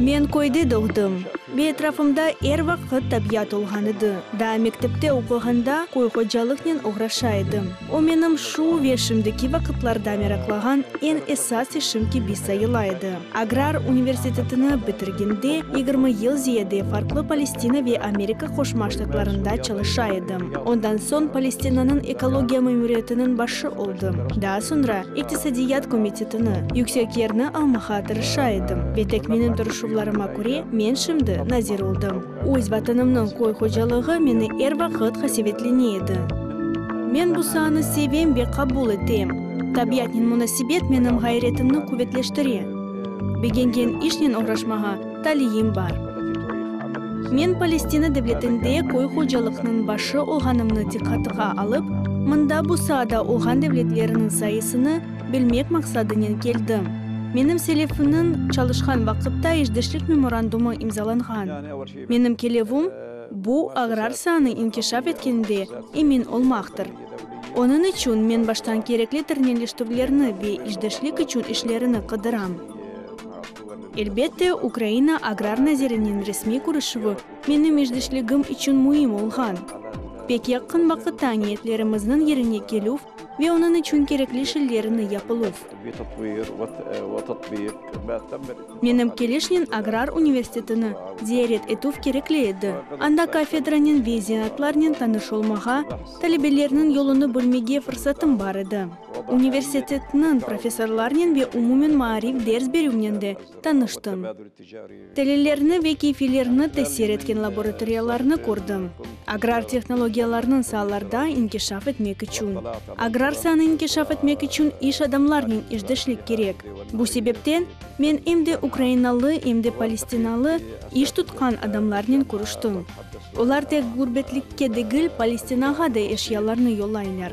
Men köyde doğdım ve etrafımda er vaqıt tabiat olğan edi. Daa mektepte oquğanda köy hocalıqnen oğraşa edim. O menim şu ve şimdiki vaqıtlarda meraqlağan eñ esas işim kibi sayıla edi. Agrar universitetini bitirgende yigirmi yıl ziyade farqlı Palestina ve Amerika Qoşma Ştatlarında çalışa edim. Ondan soñ Palestinanıñ ekologiya memuriyetiniñ başı oldım. Daa soñra İqtisadiyat komitetini, yüksek yerni almağa tırışa edim. Ve tek menim tırışuvlarıma köre, men şimdi nazir oldım. Öz Vatanımnıñ köy hocalığı meni er vaqıt qasevetlene edi. Men bu saanı sevem ve qabul etem. Tabiatnen munasebet menim ğayretimni quvetleştire. Begengen işnen oğraşmağa. taliyim bar. Men Palestina devletinde köy hocalıqnıñ başı olğanımnı diqqatığa alıp, mında bu saada olğan devletleriniñ sayısını bilmek maqsadınen keldim. Menim selefimniñ çalışqan vaqıtta işdeşlik memorandumı imzalanğan. Menim kelevüm, bu, agrar saanı inkişaf etkende emin olmaqtır. Onıñ içün men baştan kerekli terneliştüvlerni ve işdeşlik içün işlerini qıdıram. Elbette, Ukraina Agrar naziriniñ resmiy körüşüvi meni Meclisligim içün müim olğan. Pek yaqın vaqıtta niyetlerimizniñ yerine kelüv ve onıñ içün kerekli şeylerniñ yapılıv. Menim Keleşniñ Agrar universitetini ziyaret etüv kerekli edi, anda kafedranıñ ve zenatlarnen tanış olmağa, talebelerniñ yolunı bölmege fırsatım bar edi. Universitetniñ professorlarınen ve umumen maarif ders berüvnen de tanıştım. Telillerni ve keyfilerni tesir etken laboratoriyalarnı kördim. Agrar tehnologiyalarnıñ saalarda inkişaf etmek içün, agrar saanı inkişaf etmek içün iş adamlarnen işdeşlik kerek. Bu sebepten, men em de ukrainalı, em de palestinalı iş tutqan adamlarnen körüştim. Olar tek ğurbetlikke degil, Palestinağa da eşyalarnı yollaylar.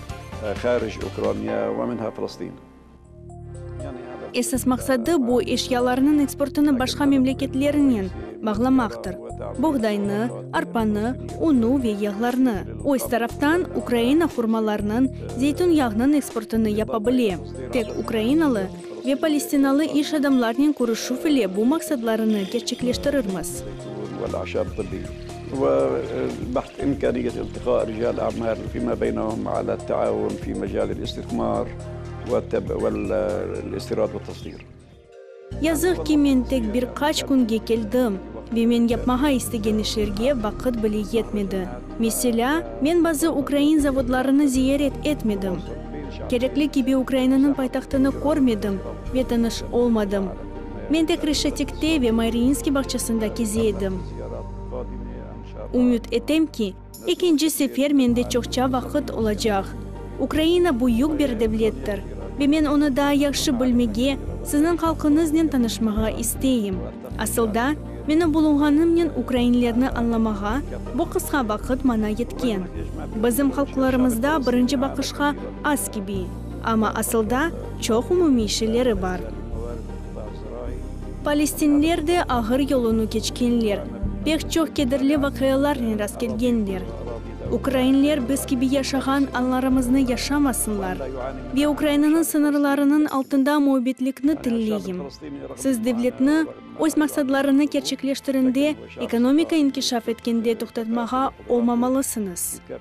Harij Ukraniya ve minha Filistin. Esas maqsadı, bu eşyalarnıñ eksportını başqa memleketlernen bağlamaqtır, boğdaynı, arpanı, unu ve yağlarnı. Öz taraftan, Ukraina hurmalarnıñ, zeytun yağnıñ eksportını yapa bile. Tek ukrainalı ve palestinalı iş adamlarnen körüşüv ile bu maqsatlarını kerçekleştirirmiz. Ve baht imkaniyet iltiqa rical amal fima beynahum ala taavun fi mecalil istismar vel istirad ve tasdir. Yazıq ki, men tek bir qaç künge keldim, ve men yapmağa istegen işlerge vaqıt bile yetmedi. Meselâ, men bazı ukrain zavodlarını ziyaret etmedim, kerekli kibi Ukrainanıñ paytahtını körmedim ve tanış olmadım. Men de Kreşetikte ve Mariinskiy bağçasında keze edim. Ümüt etem ki, ekinci sefer mende çoqça vaqıt olacaq. Ukraina büyük bir devlettir ve men onı daa yahşı bilmege, sizniñ halqıñıznen tanışmağa isteyim. Asılda, meni bulunğanımnen ukrainlerni añlamağa bu qısqa vaqıt maña yetken. Bizim halqlarımızda birinci baqışqa az kibi. Amma asılda çoq umumiy şeyleri bar. Palestinler de ağır yolunı keçkenler, pek çoq kederli vaqialarnen rastkelgenler. Ukrainler biz kibi yaşağan anlarımıznı yaşamasınlar. Ve Ukrainanıñ sıñırlarınıñ altında müebbetlikni tileyim. Siz devletni, öz maqsadlarını kerçekleştirende, ekonomika inkişaf etkende toqtatmağa olmamalısıñız.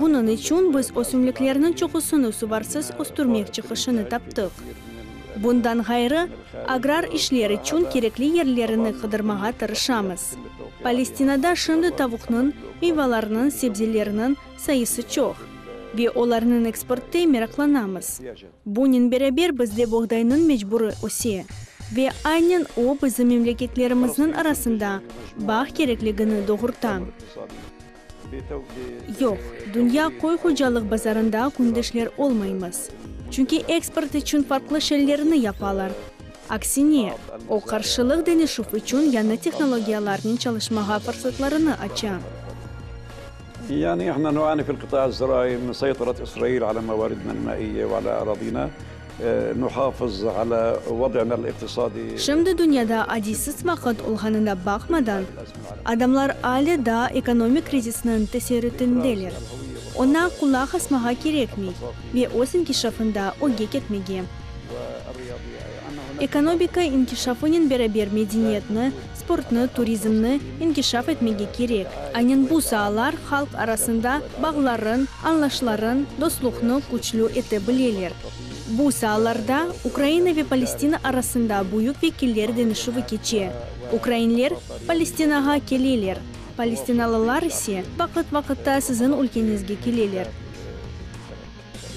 Bunıñ içün biz ösümliklerniñ çoqusını suvarsız östürmek çıqışını taptıq. Bundan ğayrı, agrar işler içün kerekli yerlerini qıdırmağa tırışamız. Palestinada şimdi tavuqnıñ, miyvalarnıñ, sebzelerniñ sayısı çoq, ve olarnıñ eksportı meraqlanamız. Bunen beraber bizde boğdaynıñ mecburi öse, ve aynen o bizim memleketlerimizniñ arasında bağ kerekligini doğurta. Yoq, dünya qoy-qocalıq bazarında kündüşler olmaymız. Çünki eksport içün farqlı şeylerni yapalar. Aksine, o qarşılıq deñişüv içün yañı tehnologiyalarnen çalışmağa fırsatlarını aça. nuhafız ala vad'ına l-iqtisadi. Şimdi dünyada adiysiz vaqıt olğanına baqmadan, adamlar ale daa ekonomik krizisniñ tesirütindeler. Oña qulaq asmağa kerekmey ve öz inkişafında öge ketmege. Ekonomika inkişafınen beraber medeniyetni, sportnı, turizmni inkişaf etmege kerek. Aynen bu saalar halq arasında bağların, añlaşların, dostluqnı küçlü ete bileler. Bu saalarda Ukraina ve Palestina arasında büyük vekiller deñişüvi keçe. Ukrainler Palestinağa keleler, palestinalılar ise vaqıt-vaqıtta siziñ ülkeñizge keleler.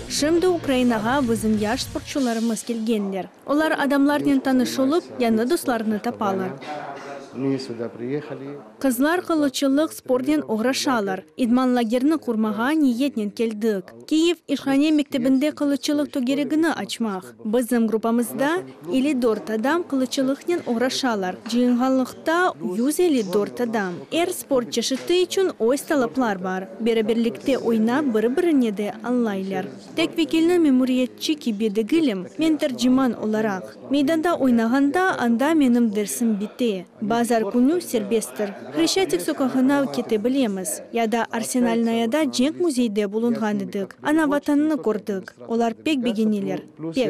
Şimdi Ukrainağa bizim yaş sportçularımız kelgenler. Olar adamlarnen tanış olıp, yañı dostlarnı tapalar. Qızlar qılıççılıq spornen oğraşalar. İdman lagerni qurmağa niyetnen keldik. Kiyev İhhane mektebinde qılıççılıq tögeregini açmaq. Bizim gruppamızda elli dört adam qılıççılıqnen oğraşalar, cıyınğanlıqta, yüz elli dört adam. Er sport çeşiti içün öz talaplar bar. Beraberlikte oynap, bir-birine de añlaylar. Tek vekilni memuriyetçi kibi degilim, men terciman olaraq. Meydanda oynağanda, anda menim dersim bite. Bazar künü serbesttir. Hreşçatik soqağına kete bilemiz. Ya da Arsenalnayada cenk müzeyde bulunğan edik, ana Vatanını kördik. Olar pek begeneler, pek.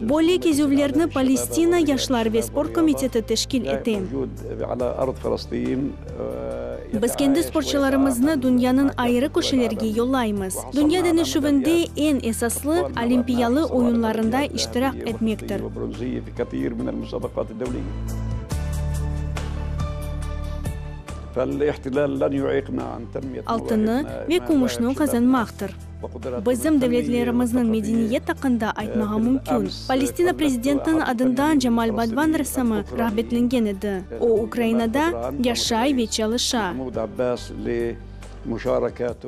Böyle kezüvlerni Palestina yaşlar ve sport komiteti teşkil ete. Biz kendi sportçılarımıznı dünyanıñ ayrı köşelerge yollaymız. Dünya deñişüvinde eñ esaslı, olimpiyalı oyunlarında iştirak etmektir. Altını ve kümüşni qazanmaqtır. Bizim devletlerimizniñ medeniyet aqqında aytmağa mümkün. Palestina prezidentiniñ adından Cemal Badvan ressamı rağbetlengen edi. O, Ukrainada yaşay ve çalışa.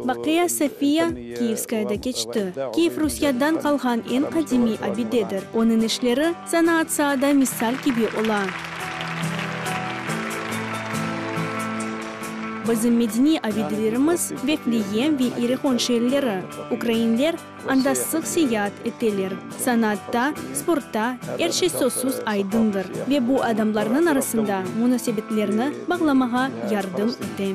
Baqiya Sofiya Kiyevskayada keçti. Kiyev Rusiyadan qalğan eñ qadimiy abidedir. Onıñ işleri Sanaat saada misal kibi ola. Bizim medeniy abidelerimiz, Vefleem ve İerihon şeerleri. Ukrainler anda sıq seyaat eteler. Sanaatta, sportta er şey sözsüz aydındır ve bu adamlarnıñ arasında munasebetlerni bağlamağa yardım ete.